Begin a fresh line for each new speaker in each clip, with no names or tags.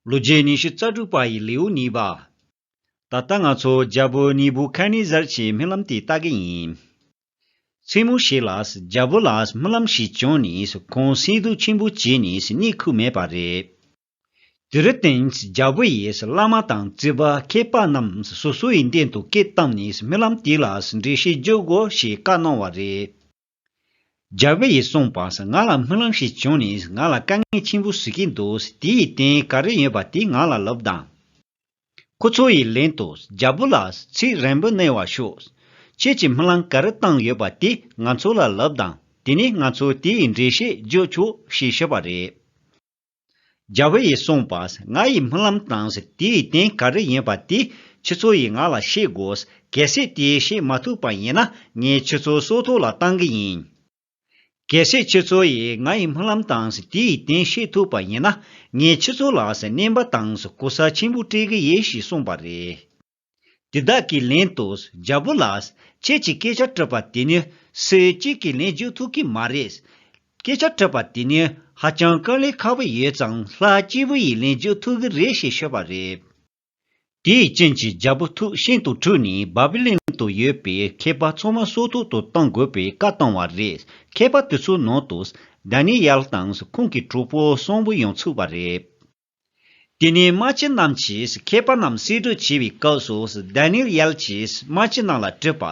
ལོ་རྒྱུས་ཉི་ཤུ་རྩ་དྲུག་པ་ཡི་ལེའུ་གཉིས་པ། ད་ལྟ་ང་ཚོ་རྒྱ་བོད་གཉིས་བོད་ཁ་ནི་ཟར་གྱི་རྨི་ལམ་དེ་ལྟ་གི་ཡིན། མཚན་མོ་ཞིག་ལ་རྒྱ་བོད་ལ་རྨི་ལམ་ཞིག་བྱུང་ནས་ཁོང་སིལ་སྡུག་ཆེན་པོ་བྱས་ནས་གནས་ཁུག་མེད་པ་རེད། དེར་བརྟེན་རྒྱ་བོད་ཡི་བླ་མ་དང་རྩིས་པ་མཁས་པ་རྣམས་སོ་སོ་ཡི་མདུན་དུ་སྐད་བཏང་ནས་རྨི་ལམ་དེ་ལ་འགྲེལ་བཤད་རྒྱོབ་དགོས་ཞེས་བཀའ་གནང་བ་རེད། རྒྱལ་བོ་ཡིས་གསུངས་པ། ང་ལ་སྨོན་ལམ་ཞིག་བྱུང་ནས་ང་ལ་དཀའ་ངལ་ཆེན་པོ་བཟོས་ཀྱིན་འདུག་དེ་ཡི་རྟེན་ག་རེ་ཡོད་པ་དེ་ང་ལ་ལབ་དང། ཁོ་ཚོ་ཡི་ལན་དུ་རྒྱལ་བོ་ལགས་ཚིག་རན་པོ་གནས་བར་ཤོག། ཁྱེད་ཀྱི་སྨོན་ལམ་ག་རེ་བཏང་ཡོད་པ་དེ་ང་ཚོ་ལ་ལབ་དང་དེ་ནས་ང་ཚོ་དེ་ཡི་འགྲེལ་བཤད་རྒྱོབ་ཆོག་ཞེས་ཞུས་པ་རེད། རྒྱལ་བོ་ཡིས་གསུངས་པ། ང་ཡི་སྨོན་ལམ་དང་དེའི་རྟེན་ག་རེ་ཡིན་པ་དེ་ཁྱེད་ཚོ་ཡིས་ང་ལ་ཤེས་དགོས། གལ་སྲིད་དེ་ཤེས་མ་ཐུབ་པ་ཡིན་ན་ངས་ཁྱེད་ཚོ་སྲོག་ཐོག་ལ་བཏང་གི་ཡིན། གལ་སྲིད་ཁྱེད་ཚོ་ཡིས་ང་ཡི་སྨོན་ལམ་དང་དེའི་རྟེན་ཤེས་ཐུབ་པ་ཡིན་ན་ངས་ཁྱེད་ཚོ་ལ་གནན་པ་དང་གོ་ས་ཆེན་པོ་སྤྲད་གི་ཡིན་ཞེས་གསུངས་པ་རེད། དེ་དག་གི་ལན་དུ་རྒྱལ་པོ་ལགས། ཁྱེད་ཀྱིས་སྐད་ཆ་སྤྲོད་པ་དེ་ནི་སུས་གཅིག་གིས་ལན་འཇུག་ཐུབ་ཀྱི་མ་རེད། སྐད་ཆ་སྤྲོད་པ་དེ་ནི་ཧ་ཅང་དཀའ་ལས་ཁག་པོ་ཡོད་ཙང་ལྷ་སྐྱེས་བུ་ཡིས་ལན་འཇུག་ཐུབ་ཀྱི་རེད་ཞེས་ཤོད་པ་རེད། དེའི་རྐྱེན་གྱིས་རྒྱལ་པོ་ཐུགས་ཤིན་ཏུ་འཁྲུལ་ནས་བཱ་པི་ལོན་དུ་ཡོད་པའི་མཁས་པ་ཚང་མ་སྲོག་ཐུག་ཏུ་གཏོང་དགོས་པའི་བཀའ་བཏང་བ་རེད། མཁས་པ་དེ་ཚོའི་ནང་དུ་དཱ་ནེ་ཡཱལ་དང་ཁོང་གི་གྲོགས་པོ་གསུམ་པོ་ཡང་ཚུད་པ་རེད། དེ་ནས་དམག་སྤྱི་རྣམས་ཀྱིས་མཁས་པ་རྣམས་བསེད་སྒྲུག་བྱེད་པའི་སྐབས་སུ་དཱན་ནེ་ཡཱལ་གྱིས་དམག་སྤྱི་རྣམས་ལ་དྲིས་པ།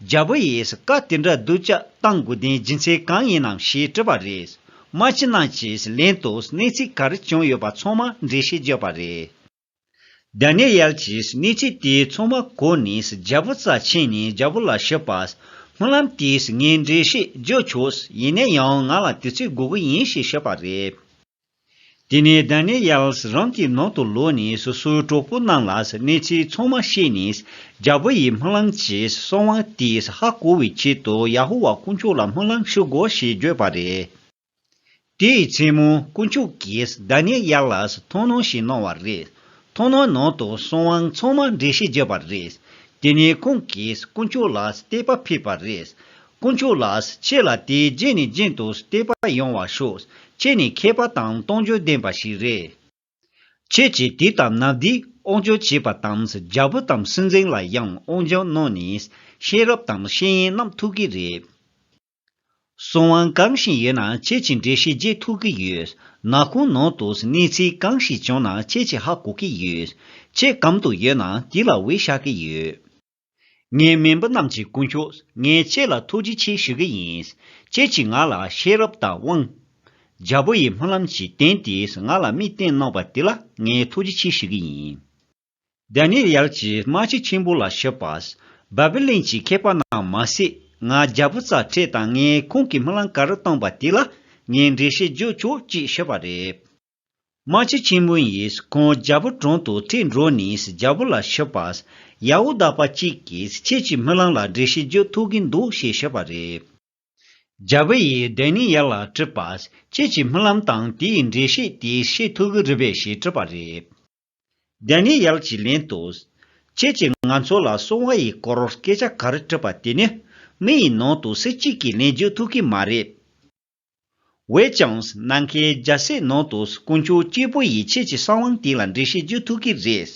རྒྱལ་པོ་ཡིས་བཀའ་དེ་འདྲ་བསྡུ་བཅག་གཏང་དགོས་དོན་རྒྱུ་མཚན་གང་ཡིན་ནམ་ཞེས་དྲིས་པ་རེད། དམག་སྤྱི་རྣམས་ཀྱིས་ལན་དུ་གནས་ཚུལ་ག་རེ་བྱུང་ཡོད་པ་ཚང་མ་འགྲེལ་བཤད་བརྗོད་པ་རེད། དཱན་ནེ་ཡཱལ་གྱིས་གནས་ཚུལ་དེ་ཚང་མ་གོ་ནས་རྒྱལ་པོ་རྩ་ཆེན་ནས་རྒྱལ་པོ་ལ་ཞུས་པ། སྨོན་ལམ་དེས་ངས་འགྲེལ་བཤད་བརྗོད་ཆོག་ཡིན་ན་ཡང་ང་ལ་དུས་ཚོད་དགོས་ཀྱི་ཡིན་ཞེས་ཞུས་པ་རེད། དེ་ནས་དཱ་ནེ་ཡཱལས་རང་གི་ནང་དུ་ལོག་ནས་སོ་སོའི་གྲོགས་པོ་རྣམས་ལ་གནས་ཚུལ་ཚང་མ་བཤད་ནས། རྒྱལ་པོ་ཡི་སྨོན་ལམ་གྱིས་གསང་བ་དེས་ཧ་གོ་བའི་ཆེད་དུ་ཡ་ཧོ་བ་དཀོན་མཆོག་ལ་སྨོན་ལམ་ཞུ་དགོས་ཞེས་བརྗོད་པ་རེད། དེའི་མཚན་མོ་དཀོན་མཆོག་གིས་དཱ་ནེ་ཡཱལས་མཐོང་སྣང་ཞིག་གནང་བ་རེད། མཐོང་སྣང་ནང་དུ་གསང་བ་ཚང་མ་འགྲེལ་བཤད་བརྒྱབ་པ་རེད། དེ་ནས་ཁོང་གིས་དཀོན་མཆོག་ལ་བསྟོད་པ་ཕུལ་བ་རེད། དཀོན་མཆོག་ལགས་ཁྱེད་ལ་དེ་རྗེས་ནས་རྗེས་མཐུད་བལྟས་པ་ཡོང་བ་ཤོག་ཁྱེད་ནི་མཁས་པ་དང་གཏོང་འཇོན་ལྡན་པ་ཞིག་རེད། ཁྱེད་ཀྱིས་དེ་དང་ནཱ་བྷི་དབང་ཆོས་བྱས་པ་དང་རྒྱལ་པོ་དང་སྲིད་འཛིན་ལ་ཡང་དབང་ཆོས་གནང་ནས་ཤེས་རབ་དང་ཤེས་ཡིན་རྣམས་ཐུག་གི་རེད། གསུང་དབང་གང་ཞིག་ཡོད་ན་ཁྱེད་ཀྱི་འགྲེལ་བཤད་རྗེས་ཐུག་གི་ཡོད། ན་ཁོང་ནང་དུ་གནས་ཚུལ་གང་ཞིག་བྱུང་ན་ཁྱེད་ཀྱི་ཧ་གོ་གི་ཡོད། ཁྱེད་གམ་དུ་ཡོད་ན་དེ་ལ་འོས་བྱ་གི་ཡོད། ངའི་སྨན་པ་རྣམས་ཀྱི་སྐུ་མཆོག་ངས་ཁྱེད་ལ་ཐུགས་རྗེ་ཆེ་ཞུ་གི་ཡིན། ཁྱེད་ཀྱིས་ང་ལ་ཤེས་རབ་དང་དབང། རྒྱལ་པོ་ཡི་སྨོན་ལམ་གྱི་རྟེན་དེས་ང་ལ་དམིགས་རྟེན་གནང་བ་དེ་ལ་ངས་ཐུགས་རྗེ་ཆེ་ཞུ་གི་ཡིན། དཱན་ནེ་རེལ་གྱིས་སྨྲ་ལྕེ་ཆེན་པོ་ལ་ཞུས་པ། བཱ་བི་ལོན་གྱི་མཁས་པ་རྣམས་མ་ཟད་ང་རྒྱལ་པོ་རྩ་ཁྲེས་དང་ངས་ཁོང་གི་སྨོན་ལམ་ག་རེ་བཏང་བ་དེ་ལ་ངས་འགྲེལ་བཤད་བརྗོད་ཆོག་ཅེས་ཞུས་པ་རེད། རྨ་བྱ་ཆེན་མོ་ཡིས་ཁོང་རྒྱལ་པོ་དྲུང་དུ་ཁྲིད་འགྲོ་ནས་རྒྱལ་པོ་ལ་ཞུས་པ། ཡའུ་བདག་པ་གཅིག་གིས་ཁྱེད་ཀྱི་སྨོན་ལམ་ལ་འགྲེལ་བཤད་རྒྱུ་ཐུག་གིན་འདུག་ཞེས་ཞུས་པ་རེད། རྒྱལ་པོ་ཡིས་བདེན་ནི་ཡར་ལ་དྲིས་པ། ཁྱེད་ཀྱི་སྨོན་ལམ་དང་དེའི་འགྲེལ་བཤད་དེ་ཤེས་ཐུག་གི་རེད་པས་ཞེས་དྲིས་པ་རེད། བདེན་ནི་ཡར་གྱིས་ལན་དུ། ཁྱེད་ཀྱིས་ང་ཚོ་ལ་སྲུང་བ་ཡི་སྐོར་སྐད་ཆ་ག་རེ་དྲིས་པ་དེ་ནི་མི་ཡི་ནང་དུ་སེ་གཅིག་གིས་ལན་རྒྱུ་ཐུག་གིན་མ་རེད། བོད་ཀྱང་ནམ་མཁའི་རྒྱལ་སྲས་ནང་དུ་དཀོན་མཆོག་སྐྱེས་བུ་ཡི་ཆེད་ཀྱི་གསང་དབང་དེ་ལ་འགྲེལ་བཤད་བརྒྱུད་ཐུག་གི་རེད།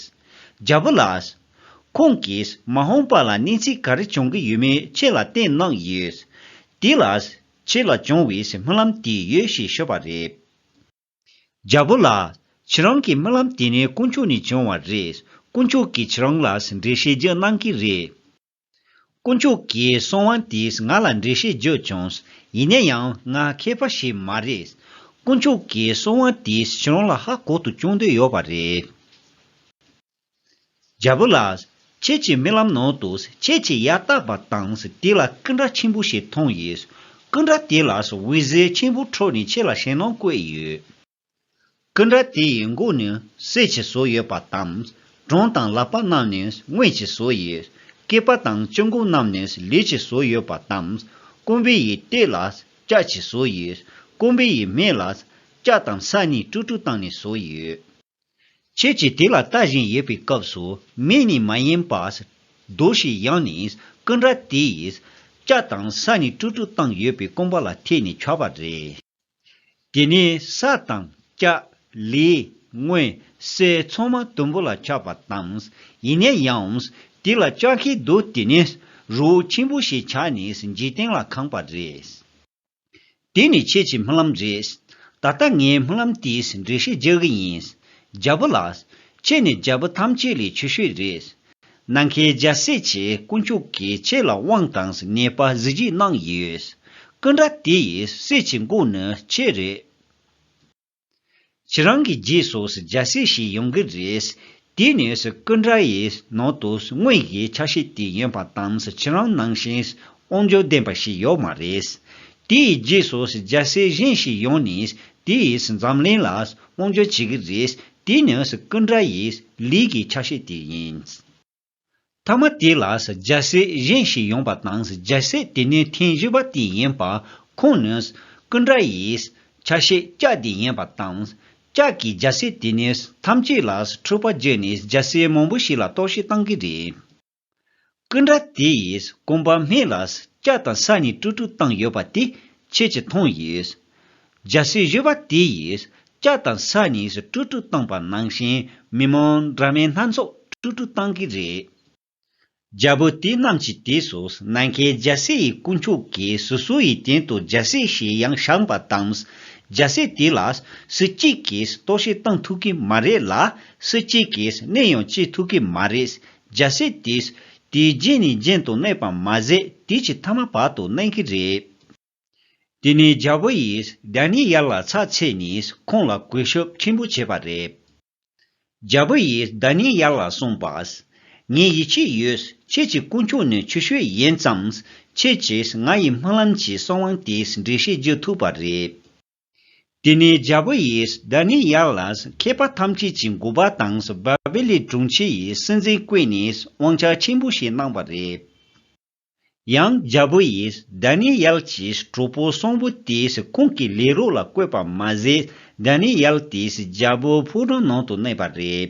རྒྱལ་བུ་ལགས། ཁོང་གིས་མ་ཧོང་པ་ལ་གནས་ཚུལ་ག་རེ་བྱུང་གི་ཡོད་མེད་ཁྱེད་ལ་བསྟན་གནང་ཡོད། དེ་ལ་ཁྱེད་ལ་བྱུང་བའི་སྨོན་ལམ་དེ་ཡོད་ཞེས་ཤོད་པ་རེད། རྒྱལ་བུ་ལགས། ཁྱེད་རང་གི་སྨོན་ལམ་དེ་ནི་དཀོན་མཆོག་ནས་བྱུང་བ་རེད། དཀོན་མཆོག་གིས་ཁྱེད་རང་ལ་འགྲེལ་བཤད་བརྒྱུད་གནང་གི་རེད། དཀོན་མཆོག་གི་གསུང་དབང་དེས་ང་ལ་འགྲེལ་བཤད་བརྗོད་བྱུང། ཡིན་ན་ཡང་ང་མཁས་པ་ཞིག་མ་རེད། དཀོན་མཆོག་གི་གསུང་དབང་དེས་ཁྱེད་རང་ལ་ཧ་གོ་དུ་བཅུག་འདོད་ཡོད་པ་རེད། རྒྱལ་པོ་ལགས། ཁྱེད་ཀྱི་རྨི་ལམ་ནང་དུ་ཁྱེད་ཀྱི་ཡ་བཏགས་པ་དང་དེ་ལ་སྐུ་འདྲ་ཆེན་པོ་ཞིག་མཐོང་ཡོད། སྐུ་འདྲ་དེ་ལ་འོད་ཟེར་ཆེན་པོ་འཕྲོས་ནས་ཁྱེད་ལ་ཞེད་སྣང་བཀོད་ཡོད། ཀུན་དགའ་དེ་ཡི་མགོ་ནི་གསེར་གྱི་བཟོ་ཡོད་པ་དང། གྲོང་དང་ལག་པ་རྣམས་ནི་དངུལ་གྱི་བཟོ་ཡོད། སྐེད་པ་དང་གཅིན་མགོ་རྣམས་ནི་ལུས་ཀྱི་བཟོ་ཡོད་པ་དང། ཀུན་དགའ་ཡི་སྟེགས་ལ་ལྕགས་ཀྱི་བཟོ་ཡོད། ཀུན་དགའ་ཡི་མེ་ལ་ལྕགས་དང་ས་ནི་སྤྲུག་སྤྲུག་བཏང་ནས་བཟོ་ཡོད། ཁྱེད་ཀྱིས་དེ་ལ་ལྟ་བཞིན་ཡོད་པའི་སྐབས་སུ་མེ་ནི་མ་ཡེངས་པར་རྡོ་ཞིག་ཡང་ནི་ཀུན་དགའ་དེ་ཡིས་ལྕགས་དང་ས་ནི་སྤྲུག་སྤྲུག་བཏང་ཡོད་པའི་རྐང་པ་ལ་ཐེག་ནས་འཁྱར་བ་རེད། དེ་ནས་ས་དང་སྐྱ། ལི། སྔོན། སེ་ཚང་མ་དུམ་བུ་ལ་ཁྱབ་པ་དང། ཡིན་ན་ཡང། དེ་ལ་ལྕགས་ཁའི་རྡོ་དེ་ནི། རོའུ་ཆེན་པོ་ཞེས་བྱ་ནི་འཇིག་རྟེན་ལ་གང་བ་རེད། དེ་ནི་ཁྱེད་ཀྱི་རྨི་ལམ་རེད། ད་ལྟ་ངའི་རྨི་ལམ་དེའི་འགྲེལ་བཤད་རྒྱག་གི་ཡིན། རྒྱལ་པོ་ལགས། ཁྱེད་ནི་རྒྱལ་པོ་ཐམས་ཅད་ལས་ཆེ་ཤོས་རེད། ནམ་མཁའི་རྒྱལ་སྲས་ཆེ་དཀོན་མཆོག་གིས་ཁྱེད་ལ་དབང་དང་ངེས་པ་གཟི་བརྗིད་གནང་ཡོད། སྐུ་འདྲ་དེ་ཡི་སྲས་ཀྱི་མགོ་ནི་ཁྱེད་རེད། ཁྱེད་རང་གི་རྗེས་སུ་རྒྱལ་སྲས་ཤིག་ཡོང་གི་རེད། དེ་ནི་སྐུ་འདྲ་ཡི་ནང་དུ་དངོས་གཞིའི་ཆ་ཤས་དེ་ཡིན་པ་དང་ཁྱེད་རང་ནང་བཞིན་དབང་འབྱོར་ལྡན་པ་ཞིག་ཡོད་མ་རེད། དེ་ཡི་རྗེས་སུ་རྒྱལ་སྲས་གཞན་ཞིག་ཡོང་ནས་དེ་ཡིས་འཛམ་གླིང་ལ་དབང་འབྱོར་བྱེད་ཀྱི་རེད་དེ་ནི་ཀུན་དགའ་ཡི་ལུས་ཀྱི་ཆ་ཤས་དེ་ཡིན། ཐ་མ་དེ་ལ་རྒྱལ་སྲས་གཞན་ཞིག་ཡོང་པ་དང་རྒྱལ་སྲས་དེ་ནི་ཐེངས་བཞི་པ་དེ་ཡིན་པ་ཁོང་ནི་ཀུན་དགའ་ཡི་ཆ་ཤས་ལྕགས་དེ་ཡིན་པ་དང། ལྕགས་ཀྱི་རྒྱལ་སྲས་དེ་ནི་ཐམས་ཅད་ལ་འཕྲུལ་པ་བརྒྱུད་ནས་རྒྱལ་སྲས་མང་པོ་ཞིག་ལ་རྟོག་ཞིབ་བཏང་གི་རེད། ཀུན་དགའ་དེ་ཡིས་ཀུན་པར་སྨད་ལ་སྐྱ་དང་ས་གཉིས་སྤྲུག་སྤྲུག་བཏང་ཡོད་པ་དེ་ཁྱེད་ཀྱིས་མཐོང་ཡོད། རྒྱ་སྲིད་གཞོན་པ་དེ་ཡིས་སྐྱ་དང་ས་གཉིས་སུ་སྤྲུག་སྤྲུག་བཏང་པ་ནང་བཞིན་མི་མང་དྲ་མའི་སྣ་ཚོགས་སྤྲུག་སྤྲུག་བཏང་གི་རེད། རྒྱ་བོད་དེ་རྣམས་ཀྱི་དེ་སུ་ནང་མཁན་རྒྱ་སྲིད་ཡི་དཀོན་མཆོག་གི་སུ་སུ་ཡི་དན་དུ་རྒྱ་སྲིད་ཞེས་ཡང་བཞག་པ་དང་རྒྱ་སྲིད་དེ་ལ་སུ་གཅིག་གིས་གཏོར་བཤིག་བཏང་ཐུབ་གི་མ་རེད་ལ་སུ་གཅིག་གིས་གནས་ཡང་བཅད་ཐུབ་གི་མ་རེད་རྒྱལ་སྲས་དེས་དེའི་རྗེས་ནས་རྒྱན་དུ་གནས་པར་མ་ཟད་དེ་ཀྱི་ཐ་མ་བར་དུ་གནས་ཀྱི་རེད། དེ་ནས་རྒྱལ་པོ་ཡིས་བདག་ཉིད་ཡར་ལ་ཚགས་ཚེས་ནས་ཁོང་ལ་གུས་ཞབས་ཆེན་པོ་བྱས་པ་རེད། རྒྱལ་པོ་ཡིས་བདག་ཉིད་ཡར་ལ་གསུངས་པ། ངའི་ཡིད་ཆེས་ཡོད་ཁྱེད་ཀྱི་སྐུ་མཆོག་ནི་ཆུ་ཤོད་ཡིན་ཙང། ཁྱེད་ཀྱིས་ང་ཡི་སྨོན་ལམ་གྱི་གསང་དབང་དེ་འགྲེལ་བཤད་བགྱི་ཐུབ་པ་རེད། དེ་ནས་རྒྱལ་པོ་ཡིས་དཱ་ནི་ཡཱ་ལས་མཁས་པ་ཐམས་ཅད་ཀྱི་མགུ་བ་དང་བ་བེ་ལི་དྲུང་ཆེ་ཡི་སྲིད་འཛིན་བསྐོས་ནས་དབང་ཆ་ཆེན་པོ་ཞིག་གནང་བ་རེད། ཡང་རྒྱལ་པོ་ཡིས་དཱ་ནི་ཡཱལ་གྱིས་གྲོགས་པོ་གསུམ་པོ་དེས་ཁོང་གི་ལས་རོགས་ལ་བསྐོས་པ་མ་ཟད་དཱ་ནི་ཡཱལ་དེས་རྒྱལ་པོའི་ཕོ་བྲང་ནང་དུ་གནས་པ་རེད།